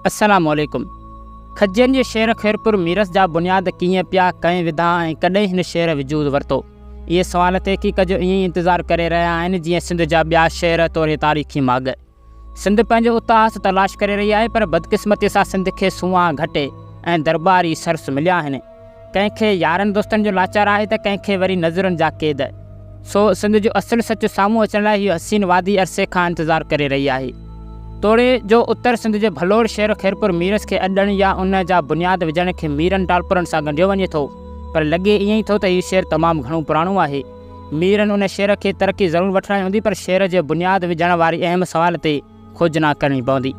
السلام عليڪم کجين جي شعر خيرپور ميرس جا بنياد ڪيئن پيا، ڪنهن وڌا ۽ ڪڏهن هن شعر وجود ورتو؟ اهي سوال تحقيق جو ائين ئي انتظار ڪري رهيا آهن جيئن سنڌ جا ٻيا شعر توڙي تاريخي ماڳ. سنڌ پنهنجو اتهاس تلاش ڪري رهي آهي پر بدقسمتي سان سنڌ کي سونهان گهٽي ۽ درٻاري سرس مليا آهن. ڪنهن کي يارن دوستن جو لاچار آهي ته ڪنهن کي وري نظرن جا قيد. سو سنڌ جو اصل سچ سامهون اچڻ لاء هيء حسين وادي عرصي کان انتظار ڪري رهي آهي. توڙي جو اتر سنڌ جي ڀلوڙ شهر خيرپور ميرس کي اڏڻ يا ان جا بنياد وجهڻ کي ميرن ٽالپرن سان ڳنڍيو وڃي ٿو پر لڳي ائين ئي ٿو ته هيء شهر تمام گهڻو پراڻو آهي. ميرن ان شهر کي ترقي ضرور وٺرائي هوندي پر شهر جي بنياد وجهڻ واري اهم سوال تي کوجنا ڪرڻي پوندي.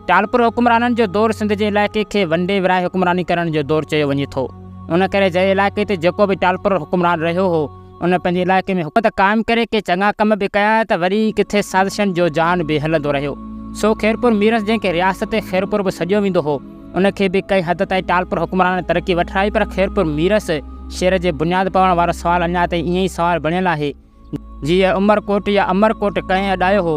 ٽالپر حڪمرانن جو دور سنڌ جي علائقي کي ونڊي ورهائي حڪمراني ڪرڻ جو دور چيو وڃي ٿو. ان ڪري جنهن علائقي تي جيڪو به ٽالپر حڪمران رهيو هو، ان پنهنجي علائقي ۾ حڪومت قائم ڪري ڪي چڱا ڪم به ڪيا ته وري ڪٿي سازشن جو جان به هلندو رهيو. سو خيرپور ميرس جنهن کي رياست خيرپور به سڏيو ويندو هو، ان کي به ڪنهن حد تائين ٽالپر حڪمرانن ترقي وٺرائي پر خيرپور ميرس شهر جي بنياد پوڻ وارو سوال اڃا تائين ائين ئي سوال بڻيل آهي. جيئي عمر ڪوٽ يا امر ڪوٽ ڪنهن اڏايو هو؟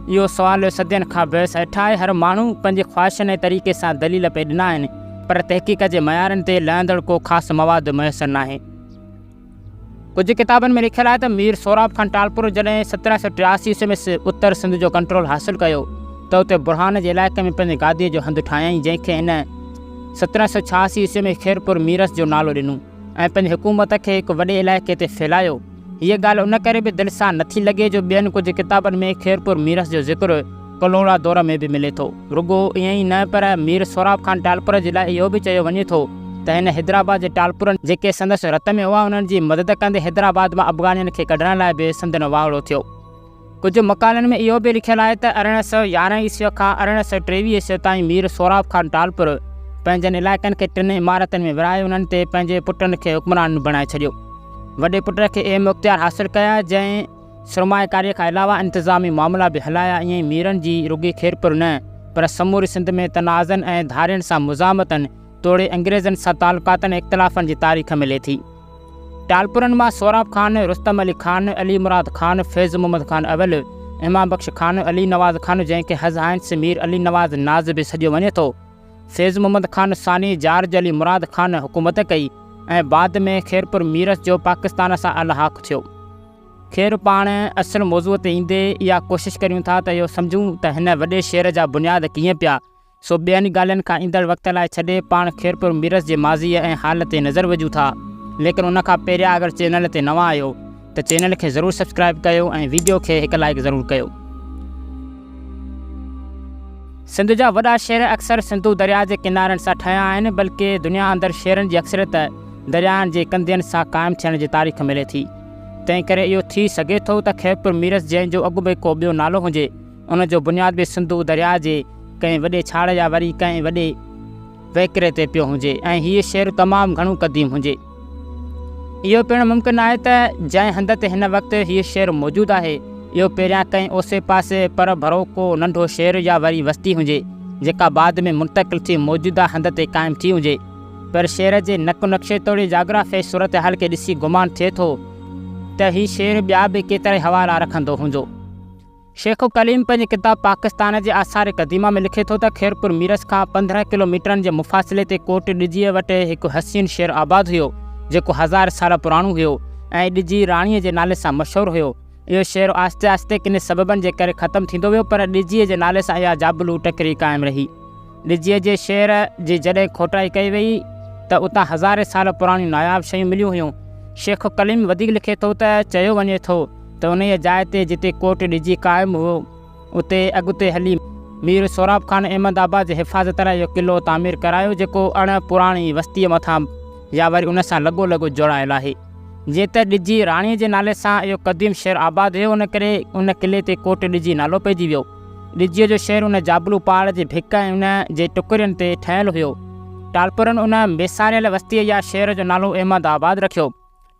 اهو سوال صدين کان بحث هيٺ آهي. هر ماڻهو پنهنجي خواهشن ۽ طريقي سان دليل پئي ڏنا آهن، پر تحقيق جي معيارن تي لهندڙ ڪو خاص مواد ميسر ناهي. ڪجهه ڪتابن ۾ لکيل آهي ته مير سهراب خان ٽالپرو جڏهن سترهن سؤ ٽياسي عيسوي ۾ اتر سنڌ جو ڪنٽرول حاصل ڪيو ته اتي برهان جي علائقي ۾ پنهنجي گاديء جو هنڌ ٺاهيائين، جنهن کي هن سترهن سؤ ڇهاسي عيسوي ۾ خيرپور ميرس جو نالو ڏنو. ۽ پنهنجي حڪومت کي هڪ وڏي علائقي تي ڦهلايو. هيء ڳالهه ان ڪري به دل سان نٿي لڳي جو ٻين ڪجهه ڪتابن ۾ خيرپور ميرس جو ذڪر ڪلهوڙا دور ۾ به ملي ٿو. رڳو ائين ئي نه پر مير سهراب خان ٽالپر جي لاء اهو به چيو وڃي ٿو ته هن حيدرآباد جي ٽالپرن جيڪي سندس رت ۾ هئا انهن جي مدد ڪندي حيدرآباد مان افغانين کي ڪڍڻ لاء به سندن واهڙو ٿيو. ڪجهه مقالن ۾ اهو به لکيل آهي ته ارڙهن سؤ يارهن عيسويء کان ارڙهن سؤ ٽيويهه عيسويء تائين مير سهراب خان ٽالپر پنهنجن علائقن کي ٽن امارتن ۾ ورهائي انهن تي پنهنجي پٽن کي حڪمران بڻائي ڇڏيو. وڏي پٽ کي اهم اختيار حاصل ڪيا جنهن سرمائيڪاريء کان علاوه انتظامي معاملا به هلايا ائين ئي ميرن جي رڳي خيرپور نه پر سموري سنڌ ۾ تنازعن ۽ ڌارين سان مزاحمتن توڙي انگريزن سان تعلقاتن ۽ اختلافن جي تاريخ ملي ٿي. ٽالپرن مان سهراب خان، رستم علي خان، علي مراد خان، فيض محمد خان اول، امام بخش خان، علي نواز خان جنهن کي هز هائنس مير علي نواز ناز به سڏيو وڃي ٿو، فيض محمد خان ثاني، جارج علي مراد خان حڪومت ڪئي ۽ بعد ۾ خيرپور ميرس جو پاڪستان سان الحاق ٿيو. خير پاڻ اصل موضوع تي ايندي اها ڪوشش ڪريون ٿا ته اهو سمجهون ته هن وڏي شهر جا بنياد ڪيئن پيا سو ٻين ڳالهين کان ايندڙ وقت لاء ڇڏي پاڻ خيرپور ميرس جي ماضيء ۽ حال تي نظر وجهون ٿا ليڪن ان کان پهريان اگر چينل تي نوان آهيو ته چينل کي ضرور سبسڪرائيب ڪيو ۽ ويڊيو کي هڪ لائيڪ ضرور ڪيو. سنڌ جا وڏا شهر اڪثر سنڌو درياء جي ڪنارن سان ٺهيا آهن بلڪه دنيا اندر شهرن جي اڪثريت دريائن جي ڪنڌين سان قائم ٿيڻ جي تاريخ ملي ٿي تنهن ڪري اهو ٿي سگهي ٿو ته خيرپور ميرس جنهن جو اڳ ۾ ڪو ٻيو نالو هجي ان جو بنياد به سنڌو درياء جي ڪنهن وڏي ڇاڙ يا وري ڪنهن وڏي وهڪري تي پيو هجي ۽ هيء شهر تمام گهڻو قديم هجي. اهو پڻ ممڪن آهي ته جنهن هنڌ تي هن وقت هيء شهر موجود آهي، اهو پهريان ڪنهن اوسي پاسي پر ڀرو ڪو ننڍو شهر يا وري وستي هجي، جيڪا بعد ۾ منتقل ٿي موجوده هنڌ تي قائم ٿي هجي. پر شهر جي نقط و نقشي توڙي جاگرافيائي صورتحال کي ڏسي گمان ٿئي ٿو ته هي شهر ٻيا به ڪيترائي حوالا رکندو هوندو. شيخ ڪليم پنهنجي ڪتاب پاڪستان جي آثار قديمه ۾ لکي ٿو ته خيرپور ميرس کان پندرهن ڪلو ميٽرن جي مفاصلي تي ڪوٽ ڏجيء وٽ هڪ حسين شهر آباد هيو، جيڪو هزار سال پراڻو هيو ۽ ڏجي راڻيء جي نالي سان مشهور هيو. اهو شهر آهستي آهستي ڪني سببن جي ڪري ختم ٿيندو ويو، پر ڏجيء جي نالي سان اها جابلو ٽڪري قائم رهي. ڏجيء جي شعر جي جڏهن کوٽائي ڪئي ويئي ته اتان هزارين سال پراڻيون ناياب شيون مليون هيون. شيخ ڪليم وڌيڪ لکي ٿو ته چيو وڃي ٿو ته انهيء جاء تي جتي ڪوٽ ڏجي قائم هئو، اتي اڳتي هلي مير سهراب خان احمد آباد جي حفاظت لاء اهو قلعو تعمير ڪرايو جيڪو اڻ پراڻي وستيء مٿان يا وري ان سان لڳو لڳ جوڙايل آهي. جيئن ته ڏجي راڻيء جي نالي سان اهو قديم شهر آباد هيو ان ڪري ان قلعي تي ڪوٽ ڏجي نالو پئجي ويو. ڳجهيء جو شهر ان جابلو پاڙ جي ڀڪ ۽ ان جي ٽڪرين تي ٺهيل هيو. ٽالپرن ان ويساريل وستيء يا شهر جو نالو احمد آباد رکيو.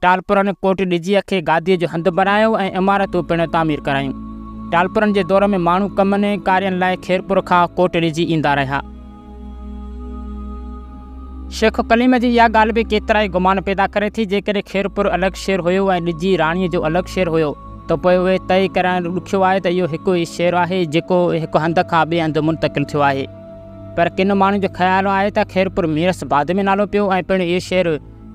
ٽالپرن ڪوٽ ڳجهيء کي گاديء جو هنڌ بنايو ۽ عمارتون پڻ تعمير ڪرايون. ٽالپرن جي دور ۾ ماڻهو ڪمن ۽ ڪارين لاء خيرپور کان ڪوٽ ڳجهي ايندا رهيا. شيخ ڪليم جي اها ڳالهه به ڪيترائي گمان پيدا ڪري ٿي، جيڪڏهن خيرپور الڳ شهر هيو ۽ ڏجي راڻيء جو الڳ شهر هيو ته پوء اهو طئي ڪرڻ ڏکيو آهي ته اهو هڪ ئي شهر آهي جيڪو هڪ هنڌ کان ٻئي هنڌ منتقل ٿيو آهي. پر ڪن ماڻهن جو خيال آهي ته خيرپور ميرس بعد ۾ نالو پيو ۽ پڻ اهو شهر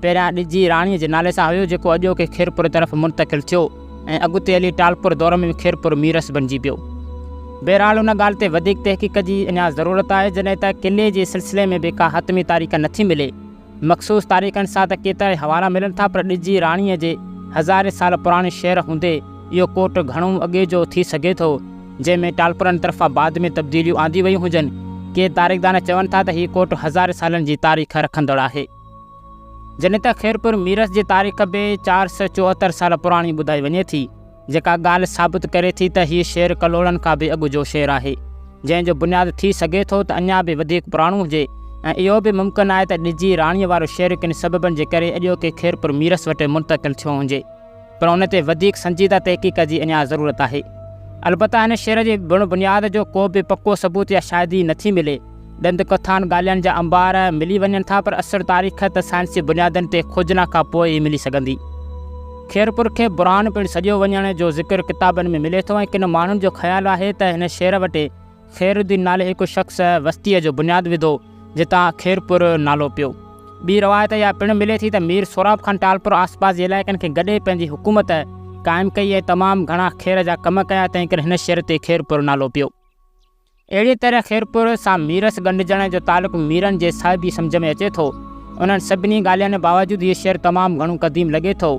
پهريان ڏجي راڻيء جي نالي سان هيو، جيڪو اڄوڪي خيرپور طرف منتقل ٿيو ۽ اڳتي هلي ٽالپور دور ۾ به خيرپور ميرس بنجي پيو. بهرحال ان ڳالهه تي وڌيڪ تحقيق جي اڃا ضرورت آهي، جڏهن ته قلعي جي سلسلي ۾ به ڪا حتمي تاريخ نٿي ملي. مخصوص تاريخن سان ته ڪيترائي حوالا ملن ٿا، پر ڏجي راڻيء جي هزارين سال پراڻي شهر هوندي اهو ڪوٽ گهڻو اڳي جو ٿي سگهي ٿو، جنهن ۾ ٽالپرن طرفان بعد ۾ تبديليون آنديون ويون هجن. ڪي تاريخدان چون ٿا ته هي ڪوٽ هزارين سالن جي تاريخ رکندڙ آهي. جنت خيرپور ميرس جي تاريخ به چار سؤ چوهتر سال پراڻي ٻڌائي وڃي ٿي، جيڪا ڳالهه ثابت ڪري ٿي ته هيء شهر ڪلهوڙن کان به اڳ جو شهر آهي، جنهن جو بنياد ٿي سگهي ٿو ته اڃا به وڌيڪ پراڻو هجي ۽ اهو به ممڪن آهي ته ڏجي راڻيء وارو شهر ڪن سببن جي ڪري اڄوڪي خيرپور ميرس وٽ منتقل ٿيو هجي. پر ان تي وڌيڪ سنجيده تحقيق جي اڃا ضرورت آهي. البته هن شعر جي بڻ بنياد جو ڪو به پڪو ثبوت يا شاهدي نه ٿي ملي. ڏند ڪٿائن ڳالهائن جا انبار ملي وڃن ٿا پر اصل تاريخ ته سائنسي بنيادن تي کوجنا کان پوء ئي ملي سگهندي. خيرپور کي برهان پڻ سڏيو وڃڻ جو ذڪر ڪتابن ۾ ملي ٿو ۽ ڪن ماڻهن جو خيال آهي ته هن شعر وٽ خير الدين نالي هڪ شخص وستيء جو بنياد وڌو، جتان خيرپور نالو پيو. ٻي روايت اها پڻ ملي ٿي ته مير سهراب خان ٽالپر آسپاس جي علائقن کي گڏي پنهنجي حڪومت قائم ڪئي ۽ تمام گهڻا خير جا ڪم ڪيا، تنهنڪري هن شهر تي خيرپور نالو پيو. اهڙيء طرح خيرپور سان ميرس ڳنڍجڻ جو تعلق ميرن جي صاحبي سمجهه ۾ اچي ٿو. انهن سڀني ڳالهين باوجود هيء شهر تمام گهڻو قديم لڳي ٿو،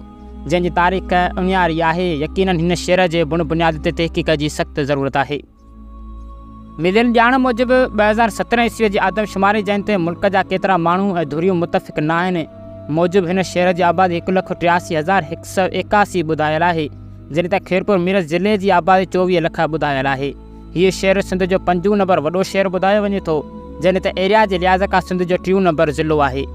جنهن جي تاريخ اڻياري آهي. يقيناً هن شهر جي بڻ بنياد تي تحقيق جي سخت ضرورت آهي. مليل ڄاڻ موجب ٻه هزار سترهن عيسويء جي آدمشماري جنهن تي ملڪ جا ڪيترا ماڻهو ۽ ڌريون متفق ناهن موجب هن شهر جي آبادي هڪ لک ٽياسي هزار هڪ سؤ ايڪاسي ٻڌايل آهي جڏهن ته خيرپور ميرس ضلعي جي آبادي چوويهه لک ٻڌايل آهي هيء شهر سنڌ جو پنجون نمبر وڏو شهر ٻڌايو وڃي ٿو جڏهن ته ايريا جي لحاظ کان سنڌ جو ٽيون نمبر ضلعو آهي.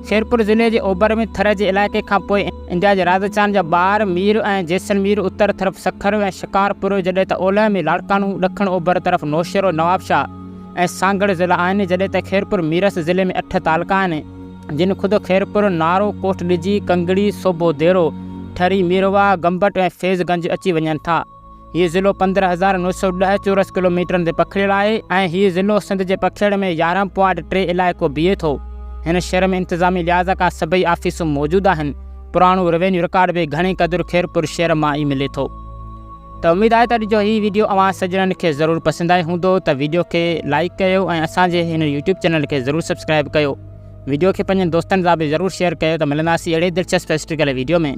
شيرپور ضلعي جي اوڀر ۾ ٿر جي علائقي کان پوء انڊيا جي راجسٿان جا ٻار مير ۽ جيسلمير، اتر طرف سکر ۽ شڪارپور، جڏهن ته اولهه ۾ لاڙڪاڻو، ڏکڻ اوڀر طرف نوشهرو، نوابشاهه ۽ سانگهڙ ضلعا آهن، جڏهن ته خيرپور ميرس ضلعي ۾ اٺ تعلقا آهن، جن خود خيرپور، نارو، ڪوٽ ڏجي، ڪنگڙي، صوبو ديرو، ٺري، ميرواهه، گمبٽ ۽ فيض گنج اچي وڃن ٿا. هيء ضلعو پندرهن هزار نو سؤ ڏهه چورس ڪلوميٽرن تي پکڙيل آهي ۽ هيء ضلعو سنڌ جي پکيڙ ۾ يارهن پوائنٽ ٽي علائقو بيهي ٿو. هن شهر ۾ انتظامي لحاظ کان سڀئي آفيسون موجود آهن. پراڻو روينيو رڪارڊ به گهڻي قدر خيرپور شهر مان ئي ملي ٿو. ته اميد آهي ته اڄ جو هي ويڊيو اوهان سڄڻن کي ضرور پسند آيو هوندو ته ويڊيو کي لائيڪ ڪيو ۽ اسان جي هن يوٽيوب چينل کي ضرور سبسڪرائيب ڪيو. ويڊيو کي پنهنجن دوستن سان به ضرور شيئر ڪيو ته ملنداسين اهڙي دلچسپ هسٽريڪل ويڊيو ۾.